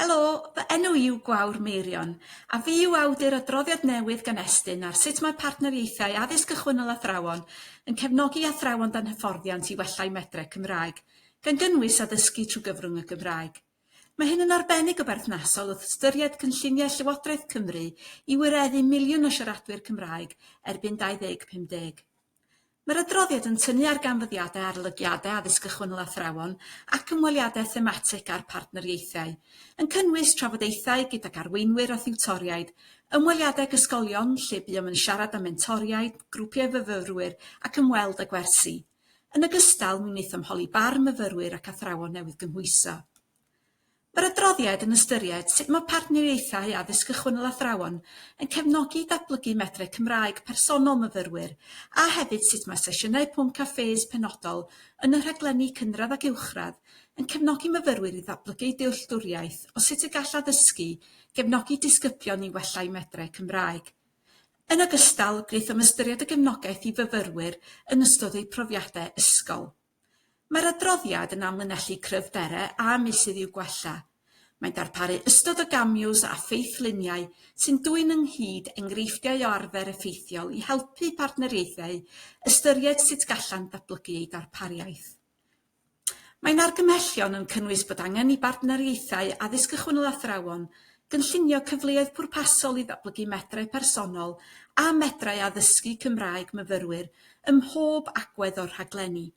Helo, fy enw i yw Gwawr Meirion, a fi yw awdur adroddiad newydd gan Estyn ar sut mae partneriaethau Addysg Gychwynnol Athrawon yn cefnogi athrawon dan hyfforddiant i wella'u medre Cymraeg, gan gynnwys addysgu trwy gyfrwng y Gymraeg. Mae hyn yn arbennig o berthnasol wrth ystyried cynlluniau Llywodraeth Cymru i wireddu miliwn o siaradwyr Cymraeg erbyn 2050. Mae'r adroddiad yn tynnu ar ganfyddiadau arolygiadau addysg gychwynnol athrawon ac ymweliadau thematig â'r partneriaethau, yn cynnwys trafodaethau gydag arweinwyr a thiwtoriaid, ymweliadau ag ysgolion lle buom yn siarad â mentoriaid, grwpiau myfyrwyr ac ymweld â gwersi. Yn ogystal, mi wnaethom holi barn myfyrwyr ac athrawon newydd gymhwyso. Mae'r adroddiad yn ystyried sut mae partneriaethau addysg gychwynnol athrawon yn cefnogi datblygu medrau Cymraeg personol myfyrwyr a hefyd sut mae sesiynau pwnc cafés penodol yn y rhaglenni cynradd ac uwchradd yn cefnogi myfyrwyr i ddatblygu eu dealltwriaeth o sut y gall addysgu gefnogi disgyblion i wella eu medrau Cymraeg. Yn ogystal, gwnaethom ystyried y gefnogaeth i fyfyrwyr yn ystod eu profiadau ysgol. Mae'r adroddiad yn amlinellu cryfderau a meysydd i'w gwella. Mae'n darparu ystod o gamiws a ffeithluniau sy'n dwyn ynghyd enghreifftiau o arfer effeithiol i helpu partneriaethau ystyried sut gallant ddatblygu eu darpariaeth. Mae'n argymhellion yn cynnwys bod angen i bartneriaethau addysg ychwanegol athrawon Cynllunio cyfleoedd pwrpasol i ddatblygu medrau personol a medrau addysgu Cymraeg myfyrwyr ym mhob agwedd o'r rhaglenni.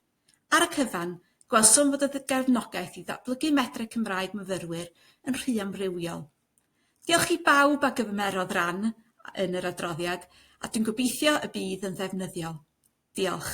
Ar y cyfan, gwelsom fod y gefnogaeth i ddatblygu medrau Cymraeg myfyrwyr yn rhy amrywiol. Diolch i bawb a gymerodd ran yn yr adroddiad, a dwi'n gobeithio y bydd yn ddefnyddiol. Diolch.